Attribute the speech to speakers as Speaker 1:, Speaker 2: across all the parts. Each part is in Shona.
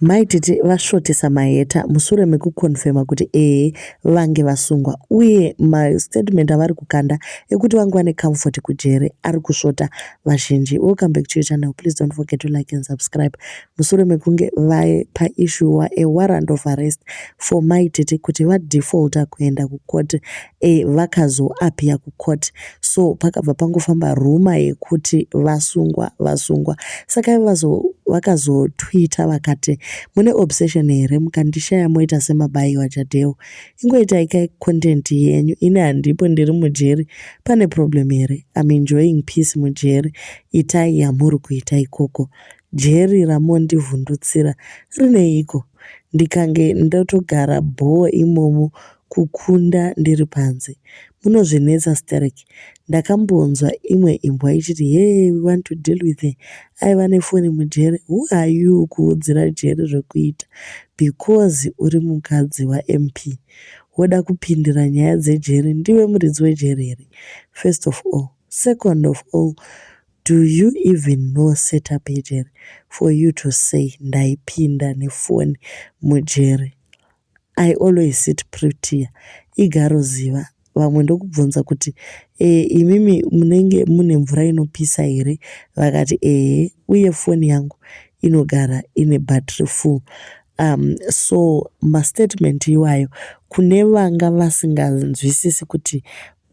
Speaker 1: Mai Tete vasvotesa Maheta mushure mekukonfema kuti ehe vange vasungwa uye mastatement avari kukanda ekuti vange vane comfort kujere ari kusvota vazhinji. Welcome back to your channel. Please don't forget to like and subscribe. Mushure mekunge vaye paissuwa a warrant of arrest for Mai Tete kuti vadefaulta kuenda kucourt e, vakazoapia kucourt so pakabva pangofamba ruma yekuti vasungwa vasungwa saka vakazotwita vakati mune obsession here mukandishaya moita semabayi wajadeo ingoitai kai content yenyu ini handipo ndiri mujeri pane problem here im enjoying peace mujeri itai yamuri kuita ikoko jeri ramondivhundutsira rineiko ndikange ndotogara bhoo imomo kukunda ndiri panze munozvinetsa sterek ndakambonzwa imwe imbwa ichiti hee we want to deal with her aiva nefoni mujeri who are you kuudzira jeri zvekuita because uri mukadzi wamp woda kupindira nyaya dzejeri ndiwe muridzi wejeri here first of all second of all do you even know setup yejeri for you to say ndaipinda nefoni mujeri I always sit Pritiya igaro ziva vamwe ndokubvunza kuti ee eh, imimi munenge mune mvura inopisa here vakati ehe uye foni yangu inogara ine battery full um, so mastatement iwayo kune vanga vasinganzwisisi kuti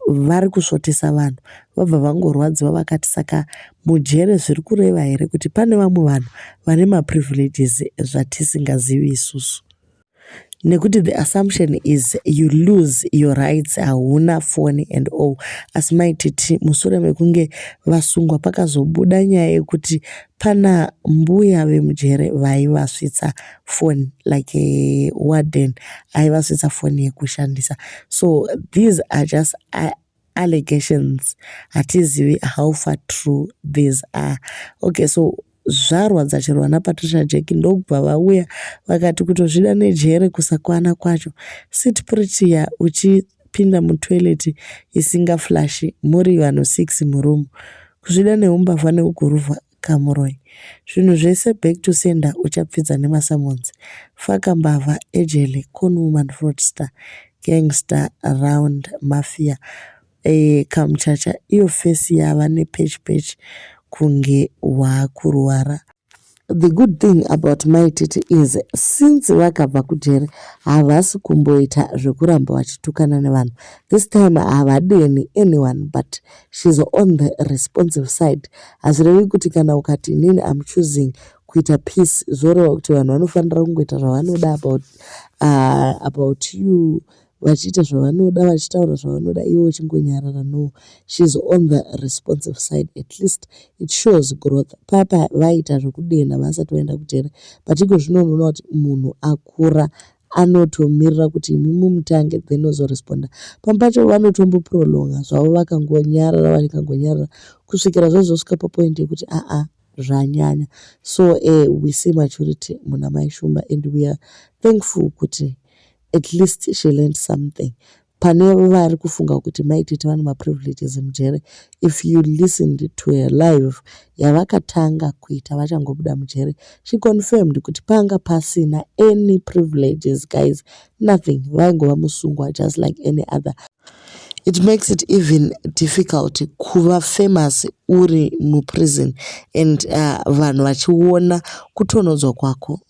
Speaker 1: vari kusvotesa vanhu vabva vangorwadziwa vakati saka mujere zviri kureva here kuti pane vamwe vanhu vane maprivileges zvatisingazivi isusu nekuti the assumption is you lose your rights hauna foni and all asi maititi mushure mekunge vasungwa pakazobuda nyaya yekuti pana mbuya vemujere vaivasvitsa foni like eh, warden aivasvitsa foni yekushandisa so these are just allegations hatizivi how far true these are okay so zvarwa dzachirwa napatricia jack ndokubva vauya vakati kutozvida nejere kusakwana kwacho sit pritiya uchipinda mutoilet isinga flashi muri vanhu six muroom kuzvida neumbavha neuguruva kamuroyi zvinhu zvese back to sender uchapfidza nemasamons faka mbavha ejele con woman fraudster gangster round mafia eh, kamuchacha iyo face yava nepech pech kunge waakurwara the good thing about mai tete is since vakabva kujere havasi kumboita zvekuramba vachitukana nevanhu this time havadeni anyone but she's on the responsive side hazvirevi kuti kana ukati inini am choosing kuita peace zvoreva kuti vanhu vanofanira kungoita zvavanoda about, uh, about you vachiita zvavanoda vachitaura zvavanoda iwe uchingonyarara no she's on the responsive side at least it shows growth papa vaita zvekudenha vasati vaenda kujere but iko zvino unoona kuti munhu akura anotomirira kuti imi mumutange then ozoresponder pamwe pacho vanotomboprolonga zvavo vakangonyarara vakangonyarara kusvikira zvazosvika papoint yekuti aa zvanyanya so uh, we see maturity muna mai shumba and we are thankful kuti at least she learned something pane vari kufunga kuti mai tete vane maprivileges mujere if you listened to her live yavakatanga kuita vachangobuda mujere she confirmed kuti panga pasina any privileges guys nothing vaingova musungwa just like any other it makes it even difficult kuva famous uri muprison and uh, vanhu vachiona kutonodzwa kwako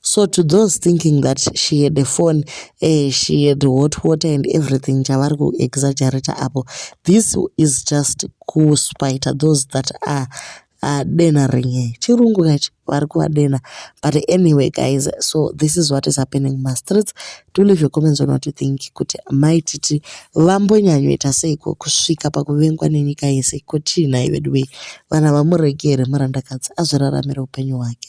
Speaker 1: so to those thinking that she had a phone uh, she had hot water and everything chavari kuexaggerator apo this is just kuspita those that are uh, dena rinye chirungu kachi vari kuvadenha but anyway guys so this is what is happening mumastreets do leave your comments on what you think kuti mai titi vambonyanyoita seiko kusvika pakuvengwa nenyika yese ko chii nhai veduwei vana vamuregere murandakadzi azviraramire upenyu hwake